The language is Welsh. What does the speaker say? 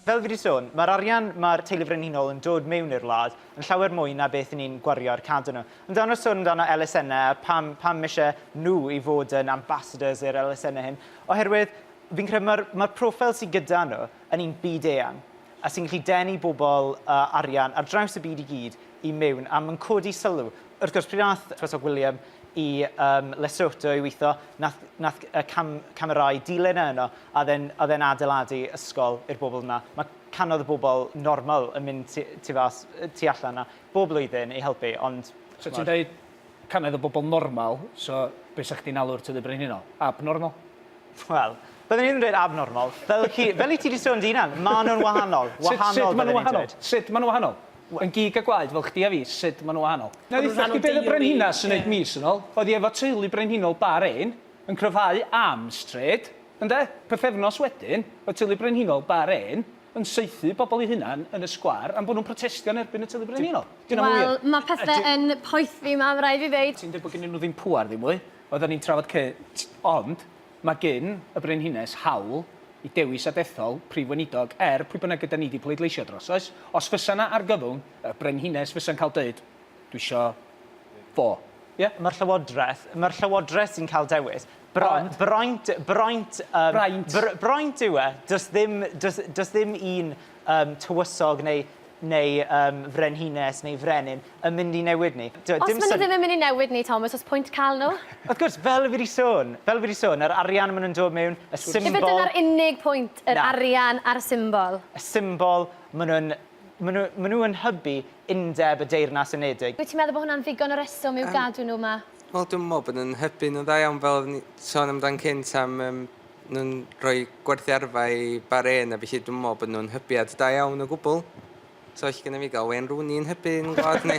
Fel fi wedi sôn, mae'r arian mae'r Teulu Frenhinol yn dod mewn i'r wlad yn llawer mwy na beth yn ni'n gwario ar cadw nhw. Ond dan nhw'n sôn amdano elusennau a pam, pam eisiau nhw i fod yn ambassadors i'r elusennau hyn, oherwydd fi'n credu mae'r, mae'r profile sydd gyda nhw yn un byd eang. a sy'n gallu denu bobl a arian ar draws y byd i gyd i mewn, a mae'n codi sylw. Wrth gwrs, pryd wnaeth Tywysog William i um, Lesotho i weithio, nath, nath cam, camerau dilyn e yno, a oedd e'n adeiladu ysgol i'r bobl yna. Mae canodd y bobl normal yn mynd tu, tu, fas, tu allan yna bob blwyddyn i helpu, ond... So ti'n dweud Cannoedd o bobl normal, so be' 'sach chdi'n alw'r Tŷ Brenhinol? Abnormal? Wel, byddwn i ddim yn dweud abnormal. Fel chi, fel i ti 'di sôn dy hunan, ma' nhw'n wahanol. Wahanol, Sut, sut ma' nhw'n wahanol? Sut ma' nhw'n wahanol? Yn gig a gwaed fel chdi a fi, sut ma' nhw'n wahanol? Na dditha chdi be' oedd y Brenhines yn neud mis yn ol? Oedd hi efo teulu Brenhinol Bahrain, yn cryfhau am stryd, ynde? Pythefnos wedyn, oedd teulu Brenhinol Bahrain yn saethu pobl eu hunain yn y sgwâr am bod nhw'n protestio yn erbyn y Tŷ Brenhinol. Dyna mor wir. Wel, mae pethe yn poethi 'ma, ma' raid fi ddeud. Ti'n dweud bod gynnyn nhw ddim pŵer ddim mwy. Oedden ni'n trafod cynt. Ond mae gyn y Brenhines hawl i dewis a dethol Prif Weinidog er pwy bynnag ydan ni 'di pleidleisio dros, oes? Os fysa 'na argyfwng, y Brenhines fysa'n cael deud, 'dwi isio fo'. Ie? Mae'r Llywodraeth, mae'r Llywodraeth sy'n cael dewis. Bront. Braint, braint, um, braint. Br braint yw e. Does ddim, does, does ddim un um, tywysog neu neu um, frenhines neu frenin yn mynd i newid ni. Do, os maen nhw ddim yn mynd i newid ni, Thomas, os pwynt cael nhw? Wrth gwrs, fel fi wedi sôn, fel fi wedi sôn, yr arian maen nhw'n dod mewn, y symbol... Efo dyna'r unig pwynt, yr Na. arian a'r symbol. Y symbol, maen nhw'n maen nhw, maen nhw yn hybu undeb y Deyrnas Unedig. Wyt ti'n meddwl bod hwnna'n ddigon o reswm i'w um, gadw nhw yma? Wel dwi'n meddwl bod yn hybu nhw'n dda iawn fel oedden ni sôn amdan cynt am um, nhw'n rhoi gwerthu arfa i Bahrain a felly dwi'n meddwl bod nhw'n hybiad da iawn o gwbl. So all gyda fi gael Wayne Rooney yn hybu yn gwlad ni.